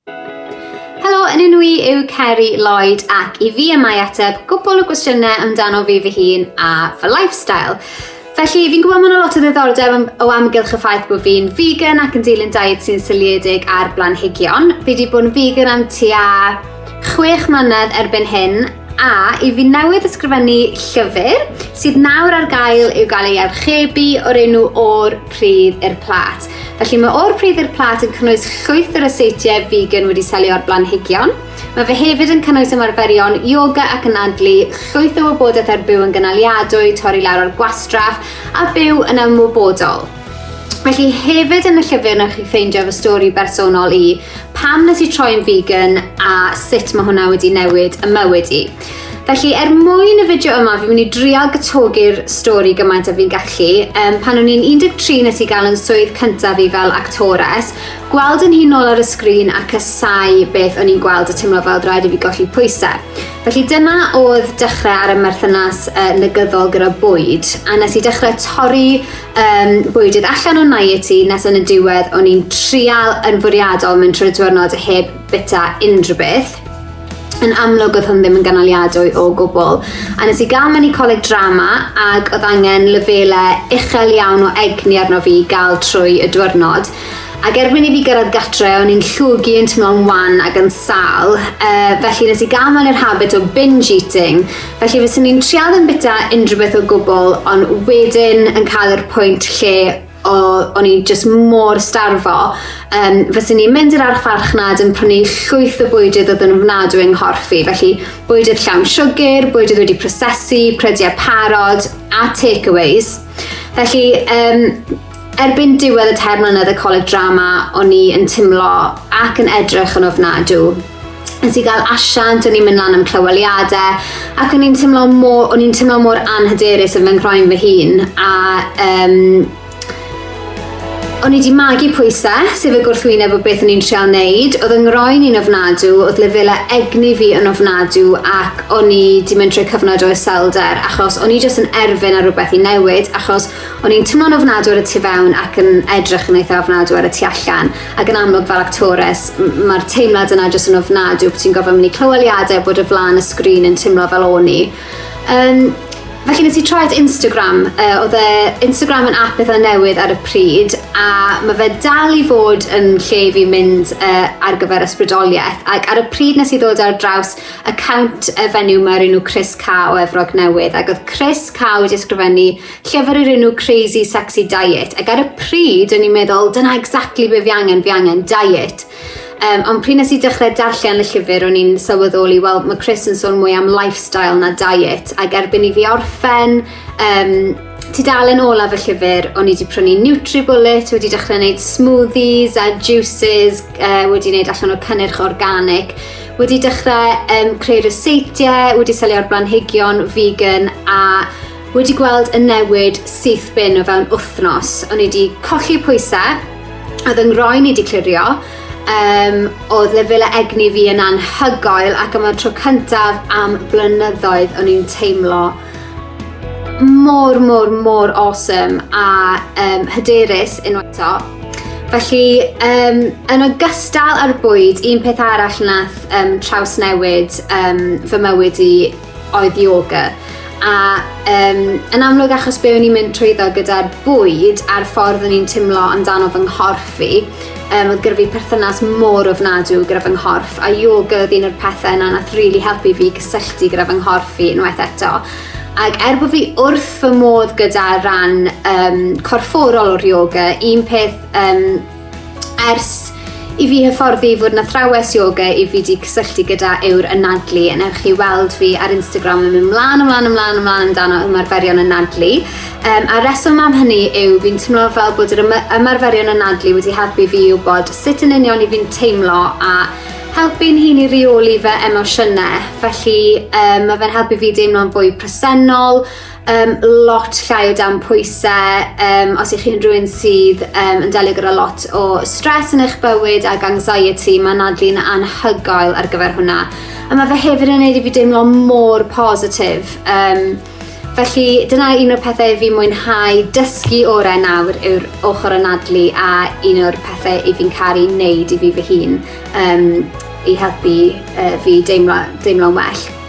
Helo, yn enw i yw Ceri Lloyd ac i fi y mae ateb gwbl o gwestiynau amdano fi fy hun a fy lifestyle. Felly, fi'n gwybod mae yna lot o ddiddordeb o amgylch y ffaith bod fi'n vegan ac yn dilyn diet sy'n syliedig ar blanhigion. Fi wedi bod yn vegan am tua chwech mlynedd erbyn hyn A i fi newydd ysgrifennu llyfr sydd nawr ar gael i'w gael ei archebu o'r enw O'r Pridd i'r Plat. Felly mae O'r Pridd i'r Plat yn cynnwys llwyth o ryseitiau vegan wedi selio ar blanhigion. Mae fe hefyd yn cynnwys ymarferion yoga ac anadlu, llwyth o wybodaeth ar byw yn gynaliadwy, torri lawr ar gwastraff a byw yn ymwybodol. Felly hefyd yn y llyfr na chi ffeindio fy stori bersonol i, pam nes i troi'n vegan a sut mae hwnna wedi newid y mywyd i. Felly, er mwyn y fideo yma, fi'n mynd i drial gytogi'r stori gymaint a fi'n gallu. Um, pan o'n i'n 13 nes i gael yn swydd cyntaf fi fel actores, gweld yn hun ôl ar y sgrin a cysau beth o'n i'n gweld a teimlo fel rhaid i fi golli pwysau. Felly dyna oedd dechrau ar y merthynas uh, negyddol gyda bwyd, a nes i dechrau torri um, bwydydd allan o'n naeti nes yn y diwedd o'n i'n trial yn fwriadol mynd trwy'r diwrnod heb bita unrhyw beth. Yn amlwg oedd hwn ddim yn ganoliadwy o gwbl. A nes i gael mynd i coleg drama ac oedd angen lefelau uchel iawn o egni arno fi gael trwy y diwrnod. Ac erbyn i fi gyrraedd gatre, o'n i'n llwgu yn teimlo'n wan ac yn sal, uh, felly nes i gael mewn i'r habit o binge eating, Felly fyswn i'n trial ddim bita unrhyw beth o gwbl, ond wedyn yn cael yr pwynt lle o, o'n i'n just mor starfo, um, fyswn i'n mynd i'r archfarchnad yn prynu llwyth o bwydydd oedd yn ofnadwy yng nghorff i, felly bwydydd llawn siwgr, bwydydd wedi prosesu, prediau parod a takeaways. Felly, um, Erbyn diwedd y tair mlynedd y Coleg Drama, o'n i yn timlo ac yn edrych yn ofnadw. Nes i gael asiant, o'n i'n mynd lan am clyweliadau, ac o'n i'n timlo mor, o'n i'n timlo mor anhyderus yn fy nghroen fy hun, a um, O'n i wedi magu pwysau, sef y gwrthwyneb o beth o'n i'n treol wneud. Oedd yng ngroen i'n ofnadw, oedd lefelau egni fi yn ofnadw ac o'n i wedi mynd trwy cyfnod o iselder achos o'n i jyst yn erfyn ar rhywbeth i newid achos O'n i'n twmlo'n ofnadw ar y tu fewn ac yn edrych yn eitha ofnadw ar y tu allan. Ac yn amlwg fel actores, mae'r teimlad yna jyst yn ofnadw bod ti'n gofio mynd i clyweliadau bod y flan y sgrin yn teimlo fel o'n i. Um, Felly nes i troi at Instagram, uh, oedd e Instagram yn app eitha newydd ar y pryd a mae fe dal i fod yn lle i fi mynd uh, ar gyfer ysbrydoliaeth ac ar y pryd nes i ddod ar draws account y fenyw mae rhywun nhw Chris Ca o Efrog Newydd ac oedd Chris Ca wedi ysgrifennu llyfr o'r enw Crazy Sexy Diet ac ar y pryd o'n i'n meddwl dyna exactly be fi angen, fi angen diet. Um, ond pryd nes i dechrau darllen y llyfr o'n i'n sylweddoli, wel mae Chris yn sôn mwy am lifestyle na diet ac erbyn i fi orffen um, tudalen olaf y llyfr o'n i wedi prynu Nutribullet, wedi dechrau gwneud smoothies a juices, uh, wedi gwneud allan o cynnyrch organic, wedi dechrau um, creu ryseitiau, wedi selio'r blanhigion vegan a Wedi gweld y newid syth bin o fewn wythnos. O'n i wedi colli pwysau, oedd yng ngroen i wedi clirio, um, oedd lefelau egni fi yn anhygoel ac yma'r tro cyntaf am blynyddoedd o'n i'n teimlo mor, mor, mor awesome a um, hyderus yn eto. Felly, um, yn ogystal â'r bwyd, un peth arall nath um, trawsnewid um, fy mywyd i oedd yoga. A um, yn amlwg achos be o'n i'n mynd trwyddo gyda'r bwyd a'r ffordd o'n i'n timlo amdano fy nghorff fi, um, oedd gyda fi perthynas mor ofnadw gyda fy nghorff, a yoga oedd un o'r pethau yna nath rili really helpu fi gysylltu gyda fy nghorff fi unwaith eto. Ac er bod fi wrth fy modd gyda rhan um, corfforol o'r yoga, un peth um, Ers i fi hyfforddi fod yn athrawes yoga i fi wedi cysylltu gyda yw'r anadlu yn ewch chi weld fi ar Instagram yn mynd mlaen, ymlaen, ymlaen, ymlaen amdano ymarferion anadlu. Um, a reswm am hynny yw fi'n teimlo fel bod yr ymarferion anadlu wedi helpu fi i wybod sut yn union i fi'n teimlo a helpu'n hun i reoli fy emosiynau. Felly um, mae fe'n helpu fi deimlo'n fwy presennol, um, lot llai o dan pwysau. Um, os ych chi'n rhywun sydd um, yn delio gyda lot o stres yn eich bywyd ac anxiety, mae Nadli'n anhygoel ar gyfer hwnna. A mae fe hefyd yn neud i fi deimlo mor positif. Um, felly dyna un o'r pethau i fi mwynhau dysgu orau nawr yw'r ochr o Nadli a un o'r pethau i fi'n caru wneud i fi fy hun um, i helpu uh, fi deimlo, deimlo'n well.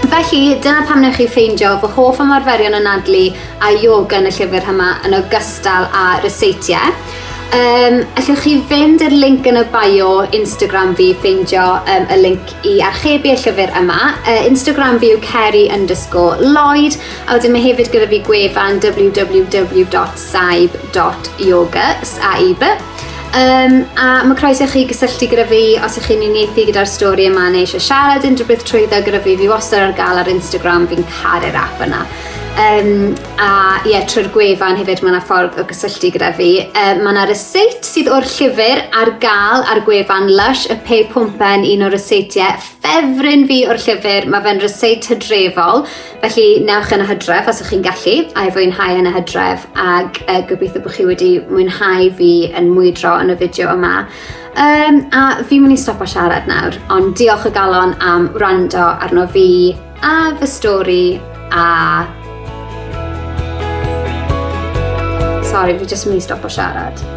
Felly, dyna pam wnewch chi ffeindio fy hoff ymarferion anadlu a yoga yn y llyfr yma yn ogystal â ryseitiau. Um, allwch chi fynd i'r link yn y bio Instagram fi, ffeindio um, y link i archebu y llyfr yma. Uh, Instagram fi yw Kerry underscore Lloyd, a wedyn mae hefyd gyda fi gwefan www.saib.yoga, saib. Um, a mae croeso chi gysylltu gyda fi os ych chi'n uniaethu gyda'r stori yma neu eisiau siarad unrhyw beth trwyddo gyda fi, fi wastad ar gael ar Instagram, fi'n caru'r app yna. Um, a ie, yeah, trwy'r gwefan hefyd mae yna ffordd o gysylltu gyda fi. Um, mae yna ryseit sydd o'r llyfr ar gael ar gwefan Lush, y pe pwmpen un o'r ryseitiau ffefryn fi o'r llyfr. Mae fe'n ryseit hydrefol, Felly, newch yn y hydref os ych chi'n gallu, a'i fwynhau yn y hydref, ac uh, gobeithio bod chi wedi mwynhau fi yn mwydro yn y fideo yma. Um, a fi mynd i stopo siarad nawr, ond diolch o galon am wrando arno fi a fy stori a... Sorry, fi jyst mynd i stopo siarad.